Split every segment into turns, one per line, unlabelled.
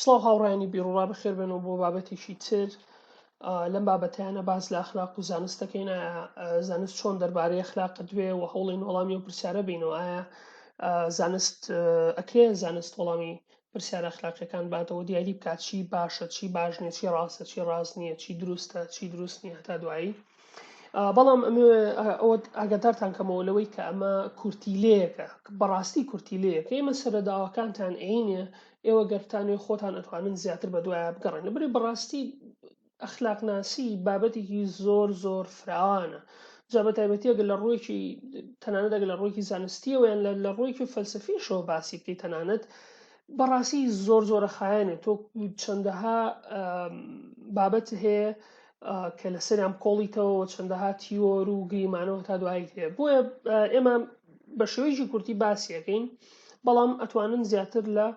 سڵاو هاوڕێیانی بیروڕا بەخێربێن و بۆ بابەتێکی تر لەم بابەتیانە باز لە ئەخلاق و زانست دەکەین زانست چۆن دەربارەی ئەخلاق دوێ و هەوڵین وەڵامی و پرسیارە بینەوە ئایا زانست ئەکرێ زانست وەڵامی پرسیارە ئەخلاقیەکان باتەوە دیاری بکات چی باشە چی باش نیە چی ڕاستە چی ڕاست نییە چی دروستە چی دروست نییە هەتا دوایی بەڵام ئەوە ئاگادارتان کەمەوە لەوەی کە ئەمە کورتیلەیەکە بەڕاستی کورتیلەیەک ئێمە سەرەداوەکانتان عینە ئێوە گەرتانێ خۆتان ئەتوانن زیاتر بە دوایە بگەڕێن لەبری بەڕاستی ئەخلاقناسی بابەتێکی زۆر زۆر فراوانە جا بە تایبەتیەگە لە ڕوویکی تەنانەتەگ لە ڕوویکی زانستیەوە یان لە ڕوویکی فەلسفیشەوە باسی بکەیت تەنانەت بەڕاستی زۆر زۆرە خایەنێت تۆ چەندەها بابەت هەیە کە لەسەریان بکۆڵیتەوە و چەندەها تیۆر و گریمانەوە هەتا دوایی هەیە بۆیە ئێمە بە شێوەیەکی کورتی باسیەکەین بەڵام ئەتوانن زیاتر لە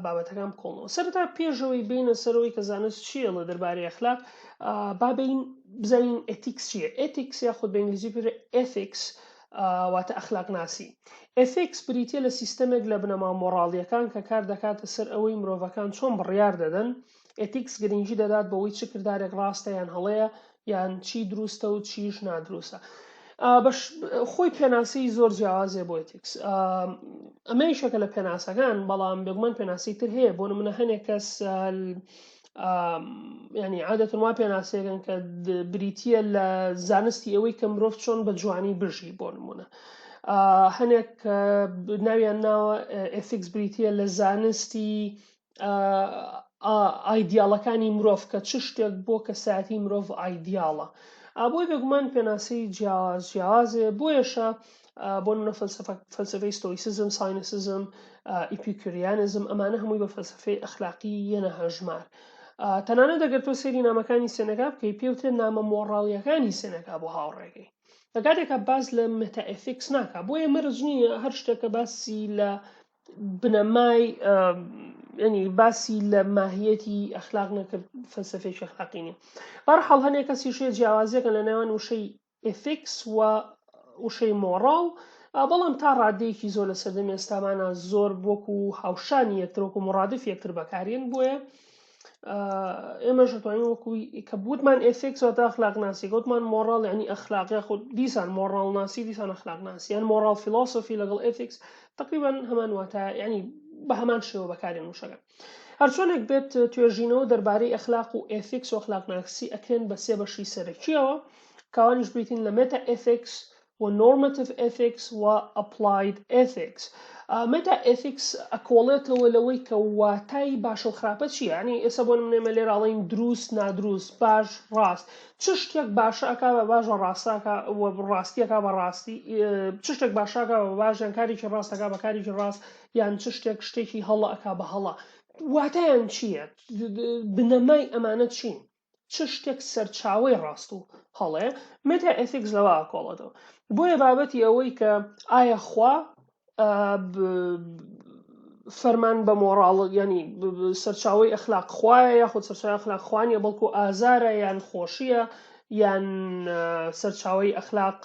بابەتەکان بکۆڵنەوە سەرتا پێشەوەی بینە سەرەوەی کە زانست چیەڵە دەربارەی ئەخلاق بابین بزانین ئەتیکس چیە ئەتیکس یاخود بە ئنگلیزی پر ئەفیکس واتە ئەخلاق ناسی ئەفیکس بریتە لە سیستەمێک لە بنەما مۆڕاڵیەکان کە کار دەکاتە سەر ئەوەی مرۆڤەکان چۆن بڕیار دەدەن ئێتیکس گرنگی دەدات بەوەی چ کردارێک ڕاستە یان هەڵەیە یان چی دروستە و چیش نادروستە خۆی پێناسی زۆر جیاوازێ بۆ ئێتیکس ئەمە یشەکە لە پێناسەکان بەڵام بێگومان پێناسی تر هەیە بۆ منە هەنێک کەس ینی عادەتن وا پێناسێکن کە بریتە لە زانستی ئەوەی کە مرۆڤ چۆن بە جوانی بژی بۆ نمونە. هەنێک ناویان ناوە ئفیکس بریتە لە زانستی ئایدیاڵەکانی مرۆڤ کە چ شتێک بۆ کەسایەتی مرۆڤ ئایدیاڵە ئابۆی بێگومان پێناسی جیاواز جیاوازێ بۆیەشە بۆ منە فەلسفەی ستۆیسزم ساینسزم ئیپیکریانزم ئەمانە هەمووی بە فەلسفەی ئەخلاقی یەنە هەژمار تەنانە دەگەر تۆ سێری نامەکانی سێنەکە بکەی پێوتێ نامە مۆڕاڵیەکانی سێنەکە بۆ هاوڕێگەی لە کاتێکە باس لە متەئفیکس ناکە بۆیە مەرج نییە هەر شتێکە باسی لە بنەمای ینی باسی لە ماهیەتی ئەخلاق نەکرد فەلسفێکی ئەخلاقی نیە بەرحاڵ هەنێک کەسی شێ جیاوازیەکە لە نێوان وشەی ئفیکس و وشەی مۆڕاڵ بەڵام تا ڕادەیەکی زۆر لە سەردەمی ئێستامانە زۆر بۆکو هاوشانی یەکترۆکو مڕادف یەکتر بەکارێن بۆیە ئێمەش دەتوانین وەکوی کە بوتمان ئێسێک سەتا خلاق ناسی گوتمان مۆڕال ینی ئەخلاق یاخود دیسان مۆڕال ناسی دیسان ئەخلاق ناسی یان مۆڕال فیلۆسفی لەگەڵ ئێتیکس تقریبان هەمان واتە ینی بە هەمان شێوە بەکارێن وشەکە هەرچۆنێک بێت توێژینەوە دەربارەی ئەخلاق و ئێتیکس و ئەخلاق ناسی ئەکرێن بە سێ بەشی سەرەکیەوە کاوانیش بریتین لە مێتا ئێتیکس و Normative Ethics و Applied Ethics Meta Ethics ئەکۆڵێتەوە لەوەی کە واتای باشە و خراپە چیە یانی ئێستا بۆ نمونە ئێمە لێرە ئەڵێین دروست نادروست باش ڕاست چ شتێک باشە ئەکا بە باش بە ڕاستاکە و ڕاستیەکە بە ڕاستی چ شتێک باشاکە بە باش یان کارێکی ڕاستەکە بە کارێکی ڕاست یان چ شتێک شتێکی هەڵە ئەکا بە هەڵە واتایان چییە بنەمای ئەمانە چین چ شتێک سەرچاوەی ڕاست و هەڵەیە، مێتا ئێثیکس لەوە ئاکۆڵێتەوە. بۆیە بابەتی ئەوەی کە ئایا خوا فەرمان بە مۆڕاڵ یانی سەرچاوەی ئەخلاق خوایە یاخود سەرچاوی ئەخلاق خوانیە بەڵکو ئازارە یان خۆشیە یان سەرچاوی ئەخلاق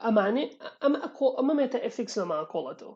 ئەمانێ ئەمە ئەکۆ ئەمە مێتە ئەفیکس لەما کۆڵەتەوە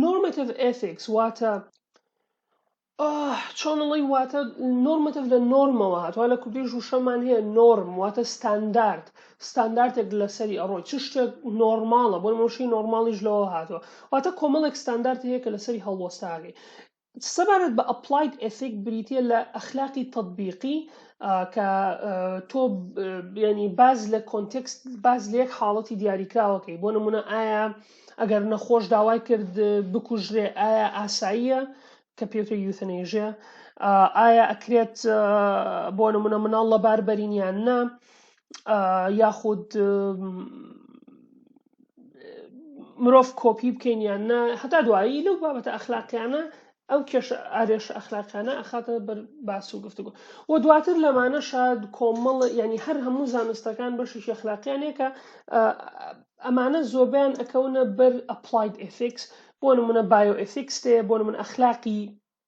نۆرمەتیڤ ئێثیکس واتە چۆنڵی واتە نۆرمەتیڤ لە نۆرمەوە هاتووە لە کوردیش وشەمان هەیە نۆرم واتە ستاندارد ستاندارتێک لەسەری ئەڕۆی چ شتێک نۆرماڵە بۆ مۆشی نۆرماڵیش لەوە هاتووە واتە کۆمەڵێک ستاندارت هەیە کە لەسەری هەڵوەستاگەی سەبارەت بە ئەپڵاید ئێسیک بریتیە لە ئەخلاقی تەتبیقی کە تۆ ینی باز لە کۆنتێکست باز لە یەک حاڵەتی دیاریکراوەکەی بۆ نمونە ئایا ئەگەر نەخۆش داوای کرد بکوژرێ ئایا ئاساییە کە پێوتە یوتەنێژە ئایا ئەکرێت بۆ نمونە مناڵ لەبار بەرینیان نا یاخود مرۆڤ کۆپی بکەین یان نا هەتا دوایی لەو بابەتە ئەخلاقیانە ئەو کێش ئارێش ئەخلاقیانە ئەخاتە بەر باس و گفتوگۆ و دواتر لەمانە شاد کۆمەڵ ینی هەر هەموو زانستەکان بەشی شەخلاقیانەیە کە ئەمانە زۆبیان ئەکەونە بەر ئەپلایت ئفیکس بۆ نمونە بایۆئفیکس تێ بۆ من ئەخلاقی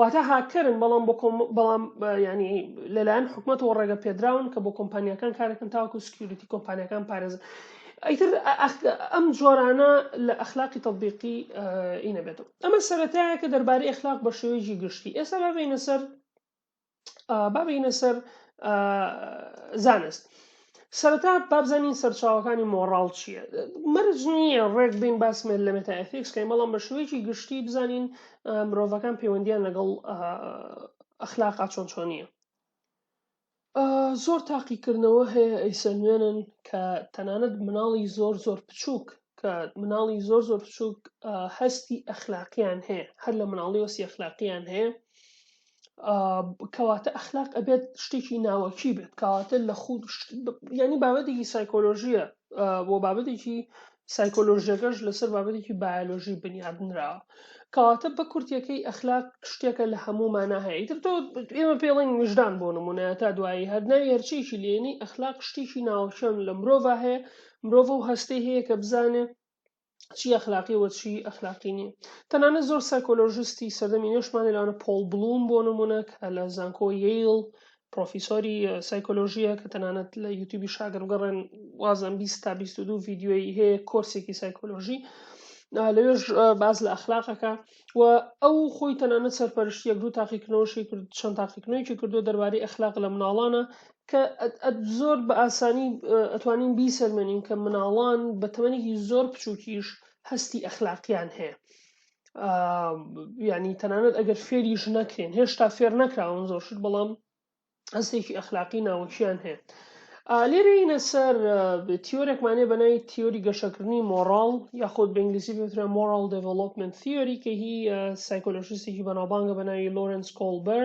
واتە هاککەرن بەڵام بۆ بەڵام ینی لەلایەن حکوومەتەوە ڕێگە پێدراون کە بۆ کۆمپانیەکان کارەکەن تاوەکو سکیوریتی کۆمپانیەکان پارێزن ئەیتر ئەم جۆرانە لە ئەخلاقی تطببیقی ئینەبێتەوە ئەمە سەتایە کە دەربارەی ئەخلاق بە شێوەیەکی گشتی ئێستا ببینە سەر با بینە سەر زانست سەرەتا بابزانین سەرچاوەکانی مۆڕاڵ چییە مەرج نییە ڕێک بین باسمێت لە مێتائفیکسکەی بەڵام بە شوەیەکی گشتی بزانین مرۆڤەکان پەیوەندیان لەگەڵ ئەخلاقا چۆن چۆن نییە زۆر تاقیکردنەوە هەیە ئەیسەنوێنن کە تەنانەت مناڵی زۆر زۆر بچووک کە مناڵی زۆر زۆر بچووک هەستی ئەخلاقیان هەیە هەر لە مناڵی وەسی ئەخلاقیان هەیە کەواتە ئەخلاق ئەبێت شتێکی ناوەکی بێت کەواتە لە خود ینی بابەتێکی سایکۆلۆژیە بۆ بابەتێکی سایکۆلۆژیەکەش لەسەر بابەتێکی بایۆلۆژی بنیادنراوە کەواتە بە کورتەکەی ئەخلاق شتێکە لە هەموو مانا هەیە تر تۆ ئێمە پێڵین وژدان بۆ نمونە تا دوایی هەرناوی هەرچێکی لێنی ئەخلاق شتێکی ناوەشەن لە مرۆڤ هەیە مرۆڤ و هەستی هەیە کە بزانێت چی ئەخلاقی وە چی ئەخلاقی نییە تەنانە زۆر سایکۆلۆژستی سەردەمی نوێشمانی لەوانە پۆڵ بڵوم بۆ نمونە کە لە زانکۆ ییل پرۆفیسۆری سایکۆلۆژیە کە تەنانەت لە یوتیوبی شاگەر بگەڕێن وازم 20 تا 22 ڤیددیوی هەیە کۆرسێکی سایکۆلۆژی لەوێش باز لە ئەخلاقەکە و ئەو خۆی تەنانە سەرپەرشتی یەک دوو تاقیکردنەوەشی کرد چەند تاقیکردنەوەیکی کردو دەربارەی ئەخلاق لە مناڵانە کە زۆر بە ئاسانی ئەتوانین بیسەلمێنین کە مناڵان بە تەمەنێکی زۆر بچووکیش هەستی ئەخلاقیان هەیە ینی تەنانەت ئەگەر فێریش نەکرێن هێشتا فێر نەکراون زۆر شت بەڵام هەستێکی ئەخلاقی ناوەکییان هەیە لێرەینە سەر تیۆرێکمانێ بەنای تیۆری گەشەکردنی مۆڕال یاخود بە ئینگلیسی پێترا مۆرال دڤلوپمنت تیۆری کە هی سایکۆلۆژیستێکی بەناوبانگە بەناوی لۆرنس کۆلبەر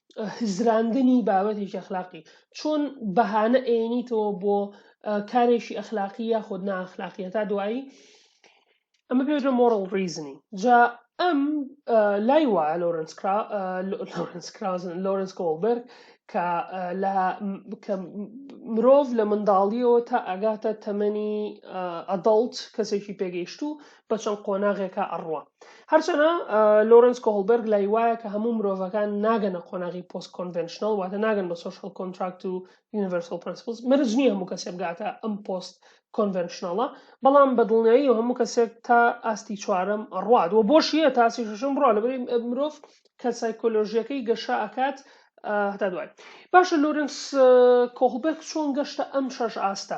هزراندنی بابەتێکی ئەخلاقی چۆن بەهانە ئەێنیتەوە بۆ کارێکی ئەخلاقی یاخود ناخلاقیە تا دوایی ئەمە پێوتە مۆرل ریزنی جا ئەم لای وایە لۆرنس لۆرنس کرازن لۆرنس کۆڵبرگ کە لە مرۆڤ لە منداڵیەوە تا ئەگاتە تەمەنی ئەدڵت کەسێکی پێگەیشت و بە چەند قۆناغێکا ئەڕوا. هەرچەنە لۆرنس کۆهڵبێرگ لای وایە کە هەموو مرۆڤەکان ناگەنە قۆناغی پۆست کۆنڤێنشنەڵ واتە ناگەن بە سۆشیاڵ کۆنتراکت و یونیڤەرسەڵ پرەنسپڵس مەرج نییە هەموو کەسێ بگاتە ئەم پۆست کۆنڤێنشنەڵە بەڵام بە دڵنیاییەوە هەموو کەسێک تا ئاستی چوارەم ڕوات و بۆش یە تا ئاستی شەشەم ڕوا لەبەری مرۆڤ کە سایکۆلۆژیەکەی گەشە ئەکات هەتا دوای باشە لۆرنس کۆهڵبێرگ چۆن گەشتە ئەم شەش ئاستە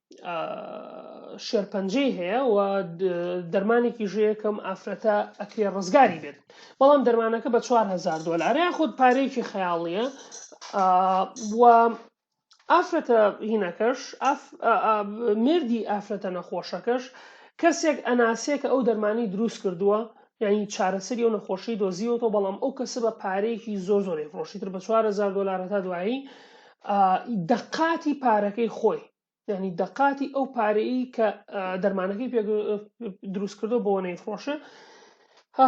شێرپەنجەی هەیە و دەرمانێکی ژەیەکەم ئافرەتە ئەکرێ ڕزگاری بێت بەڵام دەرمانەکە بە 4هزار دلارە خودت پارێکی خەیاڵیە و ئافرەتە هینەکەش مردی ئافرەتە نەخۆشەکەش کەسێک ئەناسێک ئەو دەرمانی دروست کردووە یانی چارەسەری ئەو نەخۆشیەی دۆزیوەتەوە بەڵام ئەو کەسە بە پارەیەکی زۆر زۆری فڕۆشی تر بە 4هزار دلار هەتا دوایی دەقاتی پارەکەی خۆی ینی دەقاتی ئەو پارەی کە دەرمانەکەی پێ دروست کردو بۆ نەیفرۆشە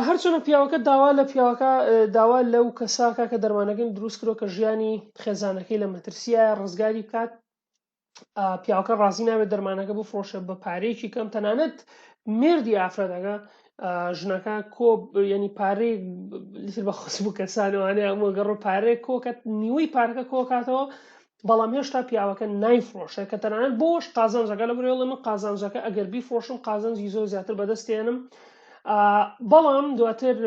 هەرچەنە پیاوەکە داوا لە پیاوەکە داوا لەو کەساکە کە دەرمانەکەن دروست کرۆ کە ژیانی خێزانەکەی لە مەترسیە ڕزگاری بکات پیاوەکە ڕازی نابێت دەرمانەکە بۆ فرۆشە بە پارەیەکی کەم تەنانەت مردی ئافرەتەکە ژنەکە کۆ ینی پارەی لتر بە خۆس بوو کەسانوانێ ئەمە گەڕ پارەیە کۆکەت نیوەی پارەکە کۆکاتەوە بەڵام هێشتا پیاوەکە نایفرۆشە کە تەنانەت بۆش قازانجەکە لە برێڵە من قازانجەکە ئەگەر بیفرۆشم قازانجی زۆر زیاتر بەدەستێنم بەڵام دواتر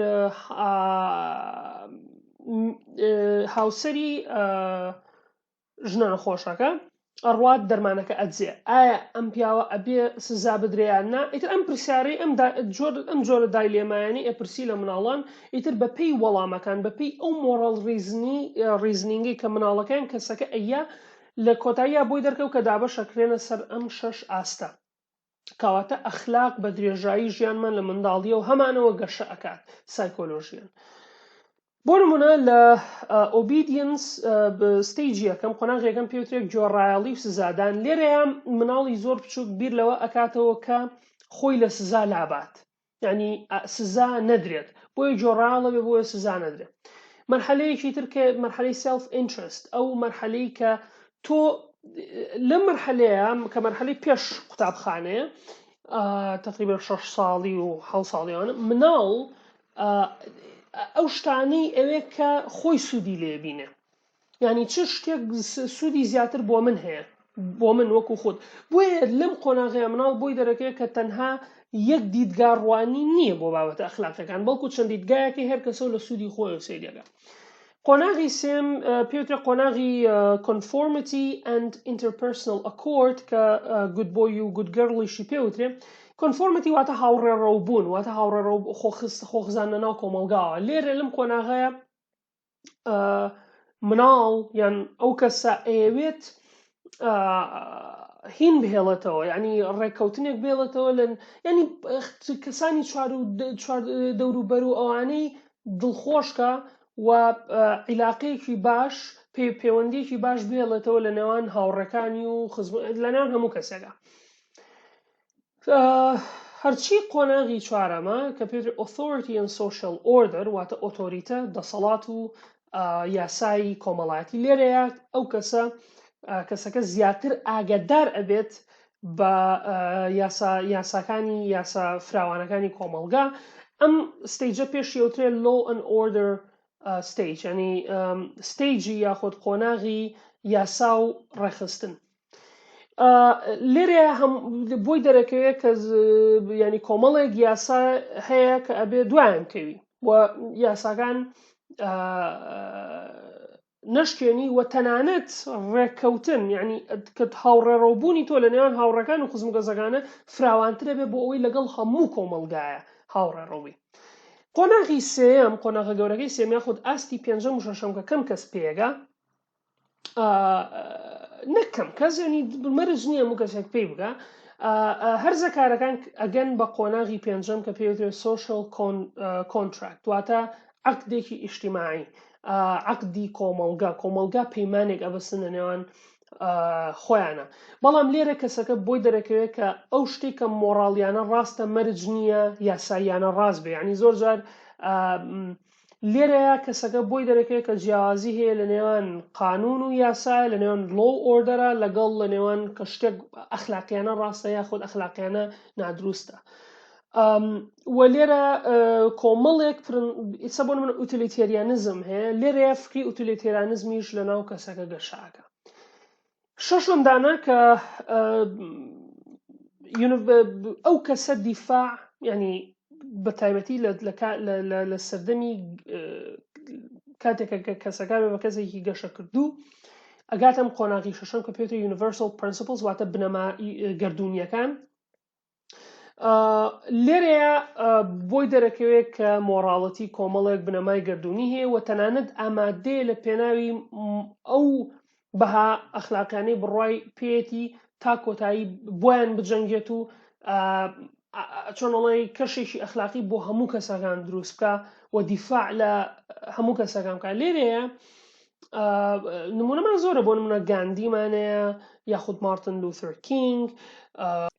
هاوسری ژنە نەخۆشەکە ئەڕوات دەرمانەکە ئەدزێ ئایا ئەم پیاوە ئەبێ سزا بدرێیان نا ئیتر ئەم پرسیارەی ئەم جۆر ئەم جۆرە دای لێمایانی ئەپرسی لە مناڵان ئیتر بەپی وەڵامەکان بەپی ئەو مۆڕاڵ ریزنی ریزنینگی کە مناڵەکەیان کەسەکە ئەیە لە کۆتاییا بۆی دەرکەوت کە دابەشەکرێنە سەر ئەم شەش ئاستە کەواتە ئەخلاق بە درێژایی ژیانمان لە منداڵیە و هەمانەوە گەشە ئەکات سایکۆلۆژیان بۆ نمونە لە ئۆبیدینس ستیجی یەکەم قۆناغ یەکەم پێوترێک جۆڕایەڵی و سزادان لێرەیە مناڵی زۆر بچووک بیر لەوە ئەکاتەوە کە خۆی لە سزا لابات یعنی سزا نەدرێت بۆی جۆڕاڵە بێ بۆیە سزا نەدرێت مەرحەلەیەکی تر کە مەرحەلەی سلف ئینترست ئەو مەرحەلەی کە تۆ لە مەرحەلەیە کە مەرحەلی پێش قوتابخانەیە تقریبا شش ساڵی و حە ساڵیانە مناڵ ئەو شتانەی ئەوێ کە خۆی سوودی لێبینێ یانی چ شتێک سوودی زیاتر بۆ من هەیە بۆ من وەکو خۆت بۆیە لەم قۆناغەیە مناڵ بۆی دەرەکەی کە تەنها یەک دیدگا ڕوانی نییە بۆ بابەتە ئەخلاقەکان بەڵکو چەند دیدگایەکە هەر کەسە لە سوودی خۆی و سریەکە قۆناغی سێم پێوترە قۆناغی کۆنفۆرمەتی ئەند ئینتەرپەرسنل ئەکۆرد کە گود بۆی و گودگەڕڵیشی پێوترێ کۆنفۆرمەتی واتە هاوڕێڕەو بوون واتە هاوڕێڕەو خۆخست خۆخزانە ناو کۆمەلگاوە لێرە لەم قۆناغەیە مناڵ یان ئەو کەسە ئەیەوێت هین بهێڵێتەوە ینی ڕێککەوتنێک بێڵێتەوە لەن ینی کەسانی دەوروبەر و ئەوانەی دڵخۆشکە و عیلاقەیەکی باش پێ پەیوەندێکی باش بێڵێتەوە لە نێوان هاوڕەکانی و خزم لە نێوان هەموو کەسێکە هەرچی قۆناغی چوارەمە کە پێتر Authority and Social Order واتە ئۆتۆریتە دەسەڵات و یاسایی کۆمەڵایەتی لێرەیە ئەو کەسە کەسەکە زیاتر ئاگدار ئەبێت بە یاساکانی یاسا فراوانەکانی کۆمەلگا ئەم ستەیجە پێشی ئەوترێ لۆ ئەن ئۆردر ستەیج ینی ستەیجی یاخود قۆناغی یاسا و ڕێخستن لێرێ بۆی دەرەکەوێت کە ینی کۆمەڵێک یاسا هەیە کە ئەبێ دوایان کەوی و یاساکان نەشکێنی و تەنانەت ڕێککەوتن ینی کە هاوڕێڕەوبوونی تۆ لە نێوان هاوڕەکان و خزم گەزەکانە فراوانترە بێ بۆ ئەوەی لەگەڵ هەموو کۆمەلگایە هاوڕێڕەوی قۆناغی سێم قۆناغە گەورەکەی سێمیا خود ئاستی پێنجەم و شەشەم کە کەم کەس پێگە نەکەم کەس ینی مەرج نییە و کەسێک پێی بگە هەرزە کارەکان ئەگەن بە قۆناغی پێنجەم کە پێوترێت سوۆشل کۆنتراکت واتە عقدێکی ئیشتیماعی عقدی کۆمەلگا کۆمەلگا پەیمانێک ئەبەستن لە نێوان خۆیانە بەڵام لێرە کەسەکە بۆی دەرەکەوێت کە ئەو شتێک کە مۆڕاڵیانە ڕاستە مەرج نییە یاساییانە ڕاست بێ ینی زۆر جار لێرەیا کەسەکە بۆی دەرەکەوێت کە جیاوازی هەیە لە نێوان قانون و یاسایە لە نێوان لۆ و ئۆردەرە لەگەڵ لە نێوان کە شتێک ئەخلاقیانە ڕاستە یاخود ئەخلاقیانە نادروستە و لێرە کۆمەڵێک ئیسە بۆ من ئوتلیتێریانزم هەیە لێرەیە فکری ئوتلیتێرانزمیش لە ناو کەسەکە گەشاکە شەشەم دانە کە ئەو کەسە دیفاع ینی بە تایبەتی لە سەردەمی کاتێکە کە کەسەکان بە کەسێکی گەشە کردوو ئەگاتم قۆناغی شەشەم کە پێێتە یونیڤرسال پرنسپلس واتە بنەما گردردونیەکان لێرەیە بۆی دەرەکەوێت کە مۆراڵەتی کۆمەڵێک بنەمای گردردونی هەیە و تەنانەت ئامادەیە لە پێناوی ئەو بەها ئەخلاقیانەی بڕای پێێتی تا کۆتایی بۆیان بجەنگێت و چۆنڵی کەشێکی ئەخلاقی بۆ هەموو کەسەکان دروست بکە و دیفاع لە هەموو کەسەکان بکە لێرەیە نمونەمان زۆرە بۆ منە گاندیمانەیە یاخود مارتن لوثر کینگ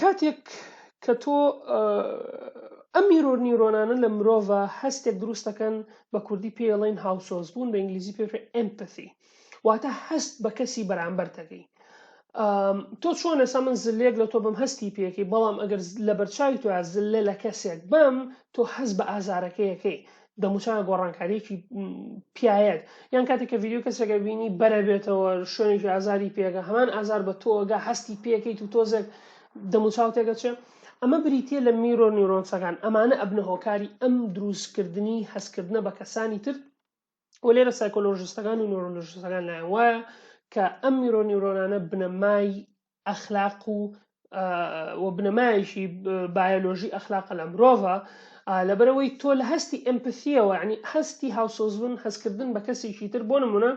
کاتێک کە تۆ ئەم میرۆر نیورۆنانە لە مرۆڤە هەستێک دروستەکەن بە کوردی پێڵین هاوسۆز بوون بە ئینگلیزی پێ ئەمپسی واتە هەست بە کەسی بەرامبەر دەگەی تۆ چۆن ئێسا من زلێک لە تۆ بم هەستی پێکی بەڵام ئەگەر لە بەرچوی تو زلە لە کەسێک بم تۆ هەز بە ئازارەکەیەکەی دەموچاوە گۆڕانکاریەکی پیاەت یان کاتێک کە ڤیددیو کەسێکە بینی بەرە بێتەوە شوێنێکی ئازاری پێگە هەمان ئازار بە تۆگە هەستی پێکەیت و تۆزێک دەموچاو تێگەچێ ئەمە بریتە لە میرۆ نیورۆنسەکان ئەمانە ئەبنە هۆکاری ئەم دروستکردنی هەستکردنە بە کەسانی تر و لێرە سایکۆلۆژیستەکان و نیورۆلژیستەکان لایەن وایە کە ئەم میرۆ نیورۆنانە بنەمای ئەخلاق و و بنەمایشی بایۆلۆژی ئەخلاقە لە مرۆڤە لەبەرەوەی تۆ لە هەستی ئەمپسیەوە ینی هەستی هاوسۆزبوون هەستکردن بە کەسێکی تر بۆ نمونە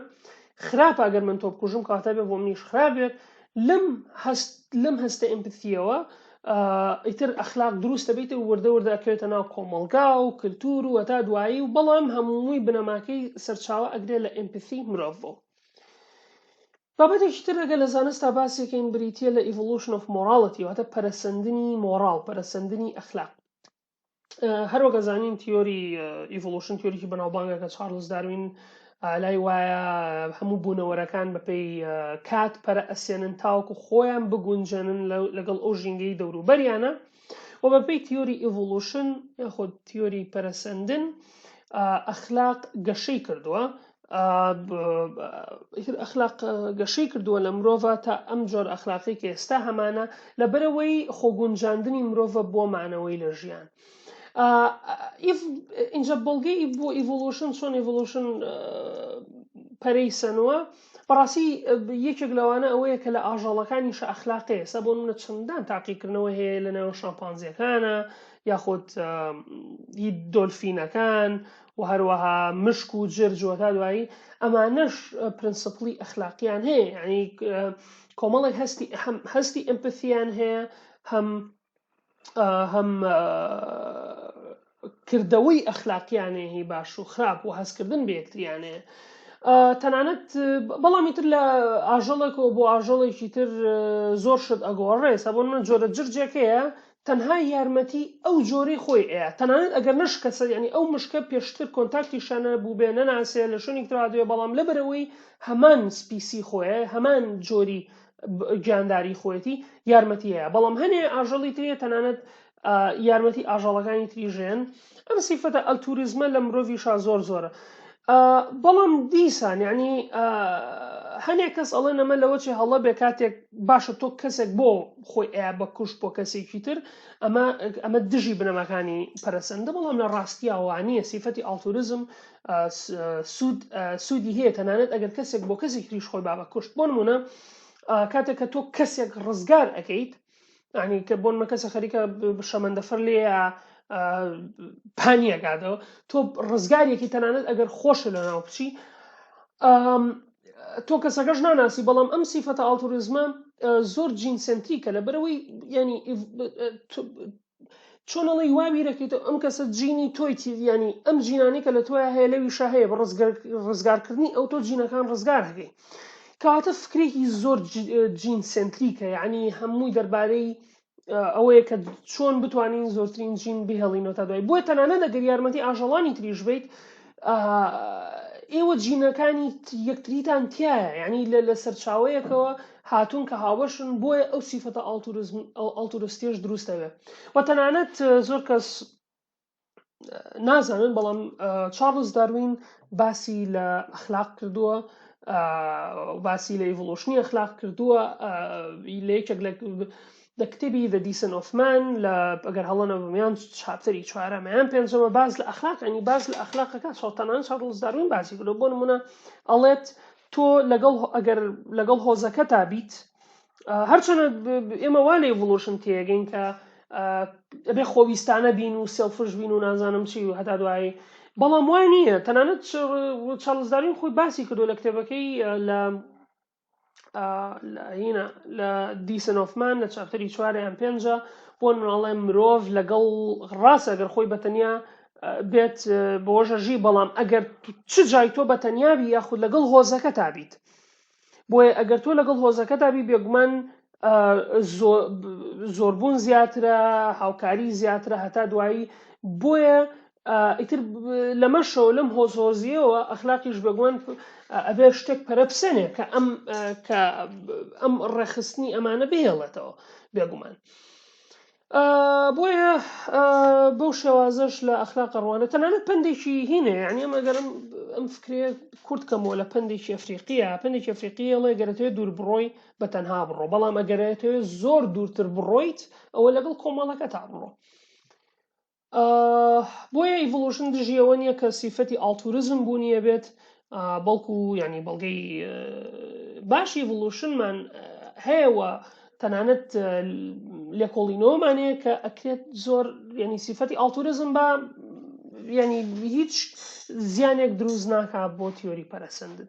خراپ ئەگەر من تۆ بکوژم کاتە بێ بۆ منیش خراپێت لەم هەست لەم هەستە ئەمپسیەوە ئیتر ئەخلاق دروستە بیت و وردە وردە ئەکەوێتە ناو کۆمەلگا و کللتور و هەتا دوایی و بەڵام هەمووی بنەماکەی سەرچاوە ئەگرێت لە ئەمپسی مرۆڤ بۆ بابەتێکی تر ئەگەر لە زانستا باسیکەین بریتیە لە Evolution of Morality واتە پەرەسەندنی مۆڕاڵ پەرەسەندنی ئەخلاق هەروەک ئەزانین تیۆری ئیڤلوشن تیۆریکی بەناوبانگە کە چارلز داروین لای وایە هەموو بوونەوەرەکان بەپی کات پەرە ئەسێنن تاوەکو خۆیان بگونجێنن لەگەڵ ئەو ژینگەی دەوروبەریانە و بەپێی تیۆری ئیڤوڵوشن یاخود تیۆری پەرەسەندن ئەخلاق گەشەی کردووە ئەخلاق گەشەی کردووە لە مرۆڤ تا ئەم جۆر ئەخلاقی کە ئێستا هەمانە لە بەرەوەی خۆگونجاندنی مرۆڤ بۆ مانەوەی لە ژیان. اینجا بەڵگەی بۆ ئیڤۆلوشن چۆن ئیڤۆلوشن پەرەی سەنووە بەڕاستی یەکێک لەوانە ئەوەیە کە لە ئاژەڵەکانیشە ئەخلاقی ئێستا بۆ منە چەندان تاقیکردنەوە هەیە لە ناوێن شامپانزیەکانە یاخود هی دۆلفینەکان و هەروەها مشک و جرجوە تا دوایی ئەمانەش پرنسپلی ئەخلاقیان هەیە ینی کۆمەڵێک هەستی هەستی ئەمپەسییان هەیە هەم هەم کردەوەی ئەخلاقیانێ هی باش و خراپ و هەستکردن بە یەکتریانێ تەنانەت بەڵامی تر لە ئاژەڵێکەوە بۆ ئاژەڵێکی تر زۆر شت ئەگۆڕێ سەبوون من جۆرە جرجێکەیە تەنها یارمەتی ئەو جۆری خۆی ئەیە تەنانەت ئەگەر نشکەسە ینی ئەو مشکە پێشتر کۆنتاکتی شانە بوو بێ نەناسێ لە شوێنی ترادوێ بەڵام لەبەرەوەی هەمان سپیسی خۆیە هەمان جۆری گیانداری خۆیەتی یارمەتی هەیە بەڵام هەنێ ئاژەڵی تریە تەنانەت یارمەتی ئاژەڵەکانی تری ژێن ئەم سیفەتە ئەلتوریزمە لە مرۆڤی شا زۆر زۆرە بەڵام دیسان یعنی هەنێ کەس ئەڵێ نەمە لەوە چێ هەڵە بێ کاتێک باشە تۆ کەسێک بۆ خۆی ئە بە کوشت بۆ کەسێکی تر ئەمە ئەمە دژی بنەماکانی پەرسەندە بەڵام لە ڕاستیاوانە سیفەتی ئاڵتوریزم سود سودی هەیە تەنانەت ئەگەر کەسێک بۆ کەسێک تریش خۆی بابە کوشت بۆ نمونە کاتێک کە تۆ کەسێک ڕزگار ئەەکەیت ینی کە بۆن مە کەسە خەریکە شەمەندەفەر لێ پانیەکاتەوە تۆ ڕزگارێکی تەنانەت ئەگەر خۆش لە ناو بچی تۆ کەسەکەش ناناسی بەڵام ئەم سیفەتە ئاڵتوریزمە زۆر جینسنتریکە لە بەرەوەی ینی چۆن ئەڵی وا بیرەکەیتەوە ئەم کەسە جینی تۆی تیدیانی ئەم جینانی کە لە تۆیا هەیە لەویشە هەیە بە ڕزگارکردنی ئەو تۆ جینەکان ڕزگار هەکەی کەواتە فکرێکی زۆر جین سنتریکە یعنی هەمووی دەربارەی ئەوەیە کە چۆن بتوانین زۆرترین جین بهێڵینەوە تا دوای بۆیە تەنانە دەگەر یارمەتی ئاژەڵانی تریش بیت ئاها ئێوە جینەکانی یەکتریتان تایە یعنی لە لە سەرچاوەیەکەوە هاتوون کە هاوبەشن بۆیە ئەو سیفەتە ئاڵتورستێش دروستەوێ و تەنانەت زۆر کەس نازانن بەڵام چارلز داروین باسی لە ئەخلاق کردووە باسی لە ئیڤلوشنی ئەخلاق کردووە لە یەکێک لە دە کتێبی The Descent of Man لە ئەگەر هەڵە نەبم یان چاپتەری چوارەمە یان پێنجەمە باس لە ئەخلاق ینی باس لە ئەخلاقەکە شەڵتەنان شارلز داروین باسی کردو بۆ نمونە ئەڵێت تۆ لەگەڵ ئەگەر لەگەڵ هۆزەکە تا بیت هەرچەنە ئێمە وا لە ئڤلوشن تێگەین کە ئەبێ خۆویستانە بین و سێڵفش بین و نازانم چی و هەتا دوایی بەڵام وای نییە تەنانەت چارلزدارین خۆی باسی کردو لە کتێبەکەی لە هینە لە دیسنۆفمان لە چاپتەری چوارە یان پێنجە بۆ مناڵێ مرۆڤ لەگەڵ ڕاست ئەگەر خۆی بەتەنیا بێت بۆژەژی بەڵام ئەگەر چ جای تۆ بە تەنیابی یاخود لەگەڵ هۆزەکە تابیت بۆیە ئەگەر تۆ لەگەڵ هۆزەکە دابی بێگومان زۆربوون زیاترە هاوکاری زیاترە هەتا دوایی بۆیە ئیتر لەمەشەوە لەم هۆزهۆزیەوە ئەخلاقیش بەگوەن ئەبێ شتێک پەرەپسێنێ کە ئەم کە ئەم ڕێخستنی ئەمانە بهێڵێتەوە بێگومان. بۆیە بەو شێوازش لە ئەخلاق ڕوانە تەنانەت پندێکی هینە یعنی ئەمەگەرم ئەم فکرێ کورت کەمەوە لە پندێکی ئەفریقیە پندێکی ئەفریقیەڵێ گەرەتێ دوور بڕۆی بە تەنها بڕۆ بەڵام ئەگەرێتەوە زۆر دوورتر بڕۆیت ئەوە لەگەڵ کۆمەڵەکە تا بڕۆ بۆیە ئیڤڵوشن دژی ئەوە نییە کە سیفەتی ئاڵتورزم بوونیە بێت بەڵکو ینی بەڵگەی باشی ڤڵوشنمان هەیەەوە تەنانەت لێکۆڵینەوەمان هەیە کە ئەکرێت زۆر ینی سیفەتی ئاڵتورزم بە ینی هیچ زیانێک دروست ناکە بۆ تیۆری پەرەسەندن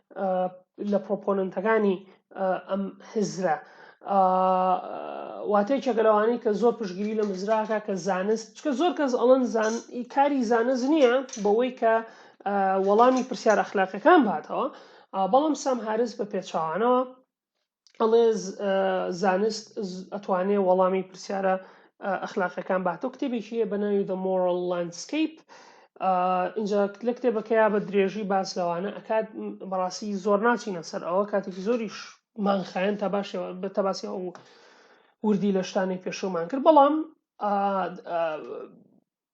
لە پرۆپۆنەنتەکانی ئەم هزرە واتە یەکێکە لەوانەی کە زۆر پشگیری لە مزراکە کە زانست چکە زۆر کەس ئەڵەن زان کاری زانست نییە بەوەی کە وەڵامی پرسیار ئەخلاقەکان باتەوە بەڵام سام هارز بە پێچوانەوە ئەڵێ زانست ئەتوانێ وەڵامی پرسیارە ئەخلاقەکان باتەوە کتێبێکیە بە ناوی دە مۆرل لندسکیپ اینجا لە کتێبەکەیا بە درێژی باس لەوانە ئەکات بەڕاستی زۆر ناچینە سەر ئەوە کاتێکی زۆریش مانخایەن تا باشەوە بە تەباسی ئەو وردی لە شتانی پێشومان کرد بەڵام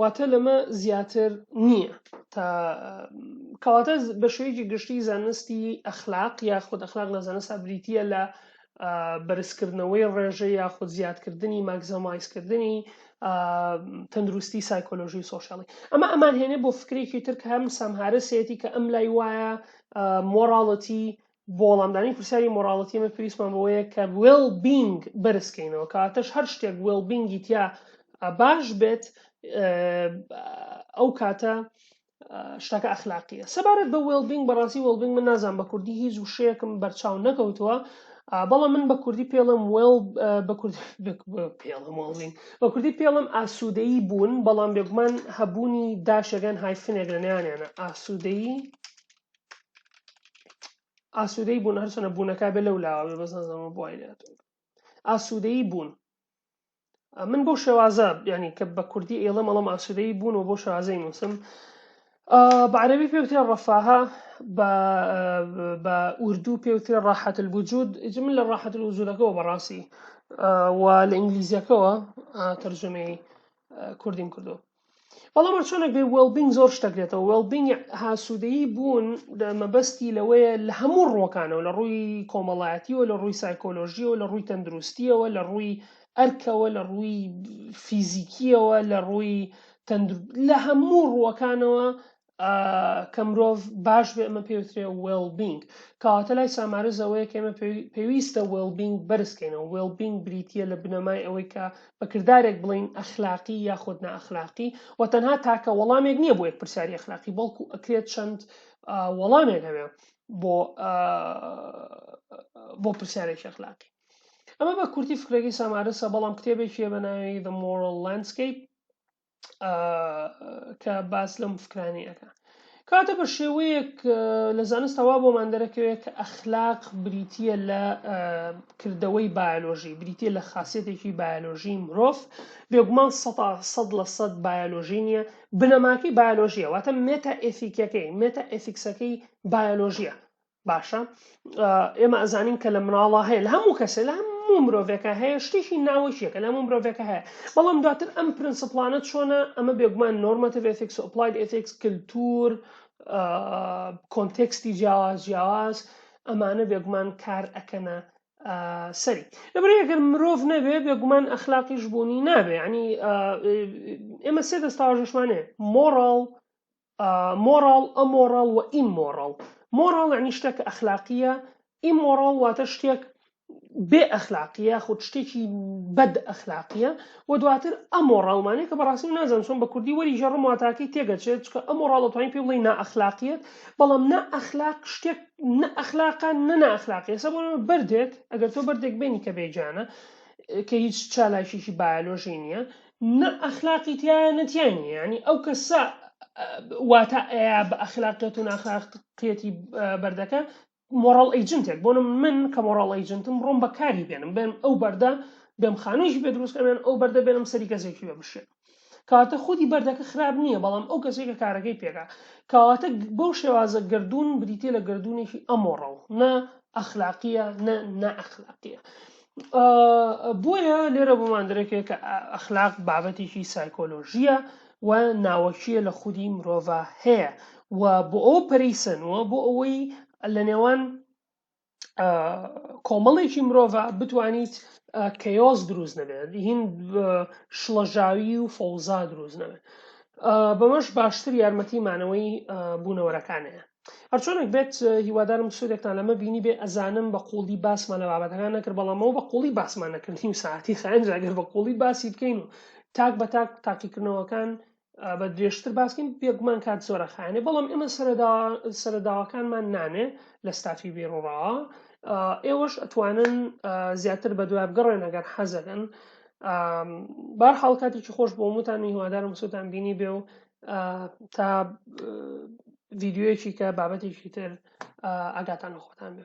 واتە لەمە زیاتر نییە تا کەواتە بە شوەیەکی گشتی زانستی ئەخلاق یا خود ئەخلاق لە زانستا بریتە لە بەرزکردنەوەی ڕێژە یا خود زیادکردنی ماکزەمایزکردنی تەندروستی سایکۆلۆژی و سۆشیالی ئەمە ئەمان هێنێ بۆ فکرێکی تر کە هەم سامهارەسێتی کە ئەم لای وایە مۆراڵەتی بۆ وەڵامدانی پرسیاری مۆراڵەتی ئێمە پێویستمان بەوەیە کە وێڵ بینگ بەرز کەینەوە کاتەش هەر شتێک وێڵ بینگی تیا باش بێت ئەو کاتە شتەکە ئەخلاقیە سەبارەت بە وێڵبینگ بەڕاستی وێڵبینگ من نازان بە کوردی هیچ وشەیەکم بەرچاو نەکەوتووە بەڵام من بە کوردی پێڵم وێڵ بە کوردی پێڵم وڵین بە کوردی پێڵم ئاسوودەیی بوون بەڵام بێگومان هەبوونی داشەگەن هایفنێک لە نیانیانە ئاسوودەیی ئاسوودەی بوون هەرچەنە بوونەکە بێ لەو لاوە بێ بەزانزانەوە بۆی لێت ئاسوودەی بوون من بۆ شێوازە ینی کە بە کوردی ئێڵە مەڵم ئاسوودەی بوون و بۆ شازەی نووسم بەعرەبی پێوتێ ڕەفاها بە ئوردو پێوتێ ڕاحەت الوجود من لە ڕاحەت الوجودەکەەوە بەڕاستی و لە ئینگلیزیەکەەوە تەرجمەی کوردیم کردو بەڵام هەرچۆنێک بێ وێڵبینگ زۆر شتە گرێتەوە وێڵبینگ هاسوودەیی بوون مەبەستی لەوەیە لە هەموو ڕوەکانەوە لە ڕووی کۆمەڵایەتیەوە لە ڕووی سایکۆلۆژیەوە لە ڕووی تەندروستیەوە لە ڕووی ئەرکەوە لە ڕووی فیزیکیەوە لە ڕووی لە هەموو ڕووەکانەوە کە مرۆڤ باش بێ ئەمە پێوترێ وێڵبینگ کەواتە لای سامارە زەوەیە کەمە پێویستە وێڵبینگ بەرزکەینەوە وێڵبینگ بریتە لە بنەمای ئەوەی کە بە کردارێک بڵین ئەخلاقی یاخود ناخلاقی و تەنها تاکە وەڵامێک نییە بۆ یەک پرسیاری ئەخلاقی بەڵکو ئەکرێت چەند وەڵامێک هەبێ بۆ بۆ پرسیارێکی ئەخلاقی ئەمە بە کورتی فکرەکەی سامارسە بەڵام کتێبێکیە بە ناوی The Moral Landscape کە باس لەم فکرانی ئەەکە کاتە بە شێوەیەک لە زانستەوا بۆمان دەرەکەوێت کە ئەخلاق بریتە لە کردەوەی بایۆلۆژی بریتە لە خاصەتێکی بایۆلۆژی مرۆڤ بێگومان سە سەد لە سەد بایۆلۆژی نییە بنەماکەی بایۆلۆژیە واتە مێتا ئەفیکەکەی مێتا ئەفیکسەکەی بایۆلۆژیە باشە ئێمە ئەزانین کە لە مناڵە هەیە لە هەموو کەسە لە هەموو مرۆڤێکە هەیە شتێکی ناوەشیەکە لە هەموو مرۆڤێکە هەیە بەڵام دواتر ئەم پرنسپلانە چۆنە ئەمە بێگومان نۆرمەتیڤ ئەتیکس و ئەپلایت ئەتیکس کللتور کۆنتێکستی جیاواز جیاواز ئەمانە بێگومان کار ئەکەنە سەری لەبری ئەگەر مرۆڤ نەبێ بێگومان ئەخلاقیش بوونی نابێ ینی ئێمە سێ دەستاژشمانێ مۆڕاڵ مۆڕاڵ، ئەمۆڕاڵ و ئیممۆڕاڵ، مۆڕاڵ یانی شتێک کە ئەخلاقییە، ئیممۆڕاڵ واتە شتێک بێ ئەخلاقییە یاخود شتێکی بەد ئەخلاقییە و دواتر ئەمۆڕاڵمانەیە کە بەڕاستی نازانم چۆن بە کوردی وەری ژەڕم واتاکەی تێگەچێت چکە ئەمۆڕاڵ دەتوانین پێ بڵێین نائەخلاقیەت بەڵام نا ئەخلاق شتێک نە ئەخلاقە نە نائەخلاقیە سە بۆ بەردێک ئەگەر تۆ بەردێک بێنی کە بێجانە کە هیچ چالاکیی بایۆلۆژی نییە نە ئەخلاقی تایە نە تای نییە یعنی ئەو کەسە واتا ئەیە بە ئەخلاقیەت و ناخلاقیەتی بەردەکە مۆڕڵ ئەیجنتێک بۆ من کە مۆڕڵ ئەیجنتم ڕۆم بەکاری بێنم بێن ئەو بەردە بێم خانوویش بێ دروستکەێن ئەو بەردە بێنم سەری کەسێکی بە بشێ کاتە خودی بەردەکە خراپ نییە بەڵام ئەو کەسێکە کارەکەی پێکا کەواتە بەو شێوازە گردردون بریتە لە گردردونێکی ئەمۆڕڵ نە ئەخلاقیە نە نە ئەخلاقیە بۆیە لێرە بۆمان درکێ کە ئەخلاق بابەتێکی سایکۆلۆژیە و ناوەکیە لە خودی مرۆڤە هەیە و بۆ ئەو پەریسەنەوە بۆ ئەوەی لە نێوان کۆمەڵێکی مرۆڤە بتوانیت کەیۆز دروست نەبێت هین شڵەژاوی و فەوزا دروست نەبێت بەمەش باشتر یارمەتی مانەوەی بوونەوەرەکانەیە هەرچۆنێک بێت هیوادارم سوودێکتان لەمە بینی بێ ئەزانم بە قوڵی باسمان لە بابەتەکان نەکرد بەڵامەوە بە قوڵی باسمان نەکردین و ساعتی خایەنجاگەر بە قوڵی باسی بکەین و تاک بە تاک تاقیکردنەوەکان بە درێژتر باسکەین بێگومان کات زۆرە خانێ بەڵام ئێمە سەرەداواکانمان نانێ لە ستافی بێڕوڕا ئێوەش ئەتوانن زیاتر بە دوای بگەڕێن ئەگەر حەزەکەن بار حڵکاتێکی خۆش بۆ موتان هیوادارم سووتان بینی بێ و تا ڤیدیۆیەکی کە بابەتێکی تر ئاگاتان لە خۆتان بێ.